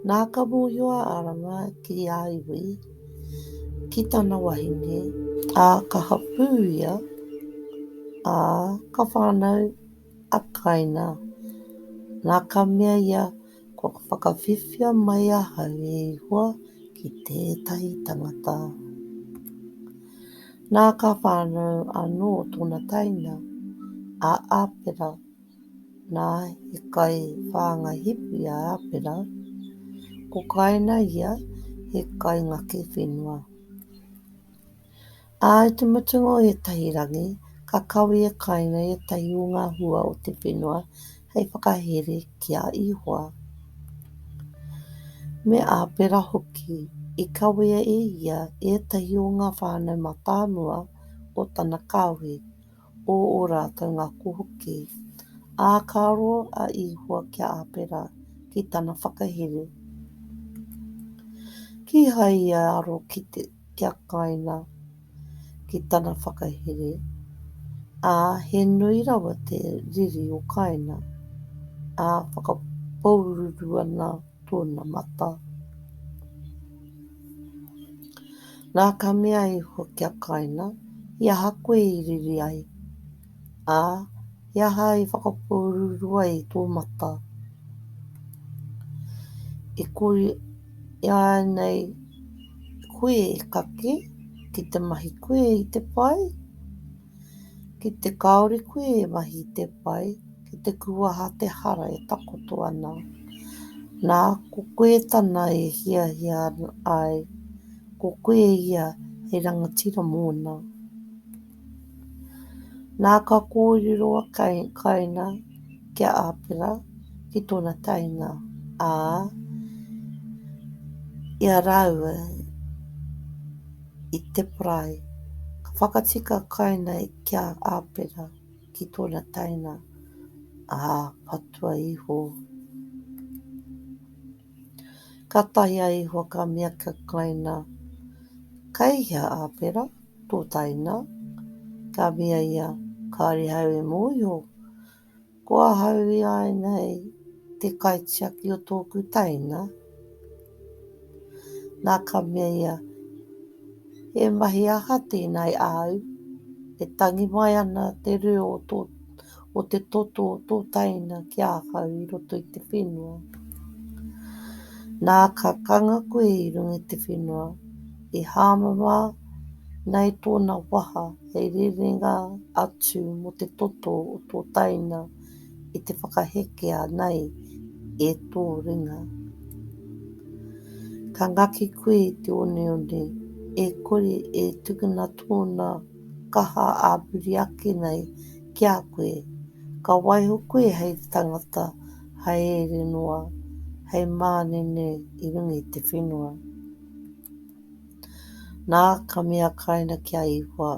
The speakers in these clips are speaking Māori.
Nā ka mōhio a Arama ki a iwi, ki tana wahine, ā, ka hapū ia, ā, ka whānau. Ataina, nā ka mea ia, kua whakawhiwhia mai ahau e Ihoa ki tētahi tangata. Nā ka whānau anō tōna taina, a Apera, nā, he kai whāngai hipi a Apera, ko Kaina ia, he kai ngaki whenua. Ā, i te mutunga o ētahi rangi, ka kawe e Kaina ētahi o ngā hua o te whenua hei whakahere ki a Ihoa, me Āpera hoki, i kawea e ia ētahi o ngā whānau matamua o tana kāhui, o ō rātou ngako hoki. Ā, ka roa a Ihoa ki a Āpera ki tana whakahere, kīhai i aro ki te. kia kainga ki tana whakahere, ā, he nui rawa te riri o kainga, ā, whakapōururu ana tōna mata. Nā, ka mea iho kia kainga, he aha koe i riri ai? Ā, he aha i whakapōuruuru ai i tō mata? E kore ināianei koe e kake ki te mahi koe i te pai? Ki te kāore koe e mahi i te pai, ki te kuaha te hara e takoto ana. Nā, ko koe tana e hiahia ai, ko koe ia hei rangatira mōna. Nā ka kōrero a Kaina ki a Āpera ki tōna taenga, ā, i a rāua i te parae. Ka whakatika a Kaina ki a Āpera ki tōna taenga, ā, patua iho. Ka taea iho ka mea ki a Kaina, Kei hea Āpera? Pōtaina, ka mea ia, kāore ahau e mōhio, ko ahau ināianei te kaitiaki o tōku taina. Nā, ka mea ia, he mahi aha tēnā e āu, e tangi mai ana te reo o tō. o te toto o tō taina ki ahau i roto i te whenua. Nā ka kanga koe i runga i te whenua, i hāmama nei tōna waha hei rerenga atu mō te toto o tō taina i te whakahekea nei e tō ringa. Ka ngaki koe i te oneone, e kore e tukuna tōna kaha āpiri ake nei ki a koe. Ka waiho koe hei tangata haereere noa, hei mānene i runga i te whenua. Nā, ka mea Kaina ki a Ihoa,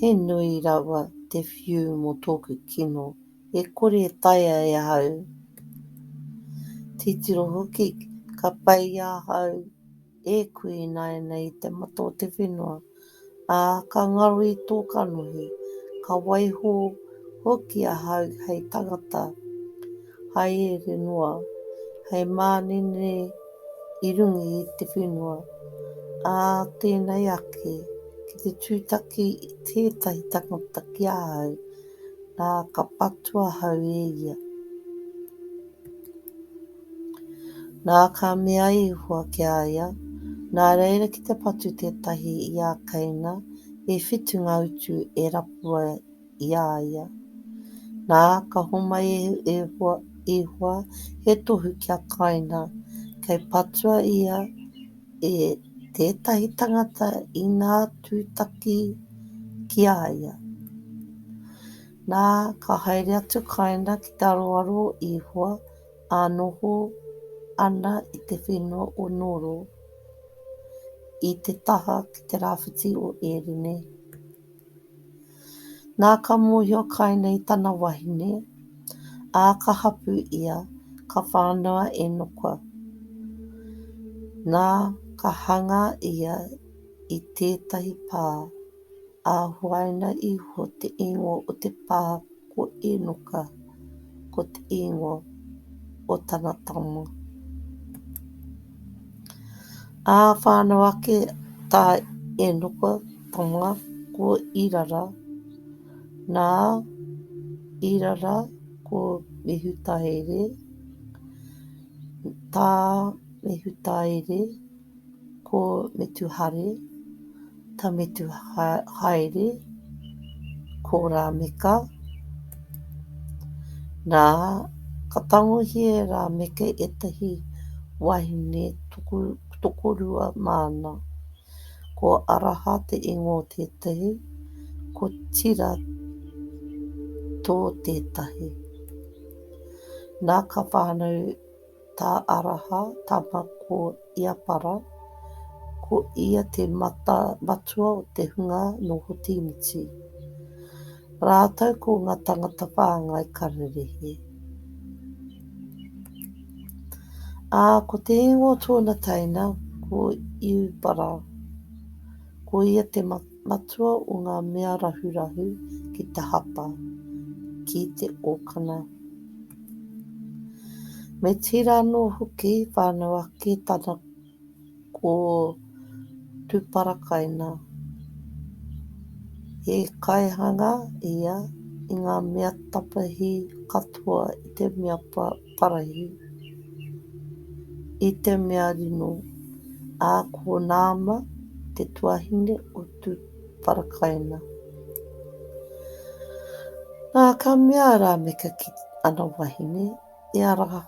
He nui rawa te whiu mō tōku kino, e kore e taea e ahau. Titiro hoki, ka peia ahau. E kui ināianei i te mata o te whenua, ā, ka ngaro i tō kanohi, ka waiho hoki ahau hei tangata haereere noa, hei mānene i runga i te whenua, ā tēnei ake, ki te tūtaki tētahi tangata ki ahau, nā, ka patua ahau e ia. Nā, ka mea a Ihua ki a ia, Nā reira ki te patu tētahi i a Keina, e whitu ngā utu e rapua i a ia. Nā, ka homai e Ihua he tohu ki a Keina, kei patua ia e tētahi tangata inā tūtaki ki a ia. Nā, ka haere atu Keina ki te aroaro o Ihua, A noho ana i te whenua o Noro, i te taha ki te rāwhiti o Ērine. Nā ka mōhio kai nei tana wahine, ā, ka hapu ia, ka whānau a Enoka. Nā, ka hangā ia i tētahi pā. ā, huaina iho te ingoa o te pā ko Enoka, ko te ingoa o tana tama. Ā, whānau ake tā Enoka tama ko Irara, nā Irara ko Mehutaere, tā Mehutaere, Ko Metuhare, ta Metuhaere, ko Rameka. Na, ka tangohia e Rameka etahi wahine tokorua mana. Ko Araha te ingoa o tetahi, ko Tira to tetahi. Na, ka whanau Tā Araha, tama ko Iapara, ko ia te matua o te hunga nō Hotīmiti, rātou ko ngā tangata whāngai kararehe. Ā, ko te ingoa o tōna teina, ko Iubara, ko ia te matua. Matua o ngā mea rahurahu ki te hapa, ki te okana. Me tira anō hoki whānau ake tana ko Tuparakaina. He kaihanga ia i ngā mea tapahi katoa i te mea pa. Parahi, i te mea rino, ā, ko Naama te tuahine o Tūparakaina. Nā, ka mea a Rāmeka ki ana wahine, E Araha,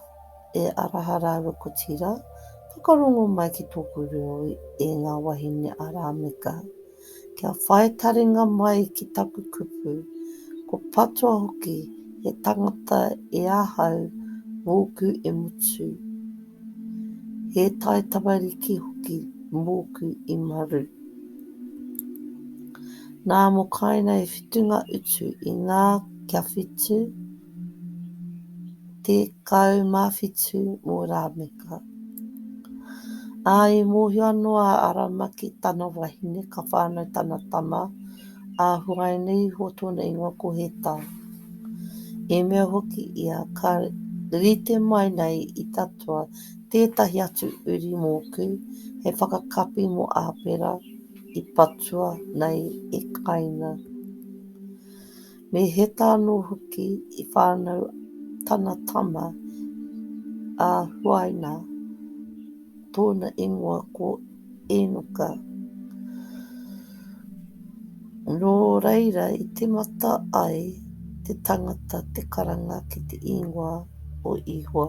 e Araha rāua ko Tira, whakarongo mai ki tōku reo e ngā wahine a Rāmeka, kia whai taringa mai ki taku kupu, ko patua hoki he tangata e ahau mōku e mutu, he tai tamariki hoki mōku i maru. Nā mō kainei whitunga utu i ngā kia whitu, 17 mō Rāmeka. Ā, i mōhio anō a Arama ki tana wahine, ka whānau tana tama, ā, huaina iho tōna ingoa ko Heta. I mea hoki ia, Ka rite mai nei i tatua tētahi atu uri mōku, he whakakapi mō Āpera, i patua nei e Kaina. Me Heta anō hoki i whānau tana tama a Huaina, tōna ingoa ko Enoka. Nō reira i tīmata ai te tangata te karanga ki te ingoa o Ihowa.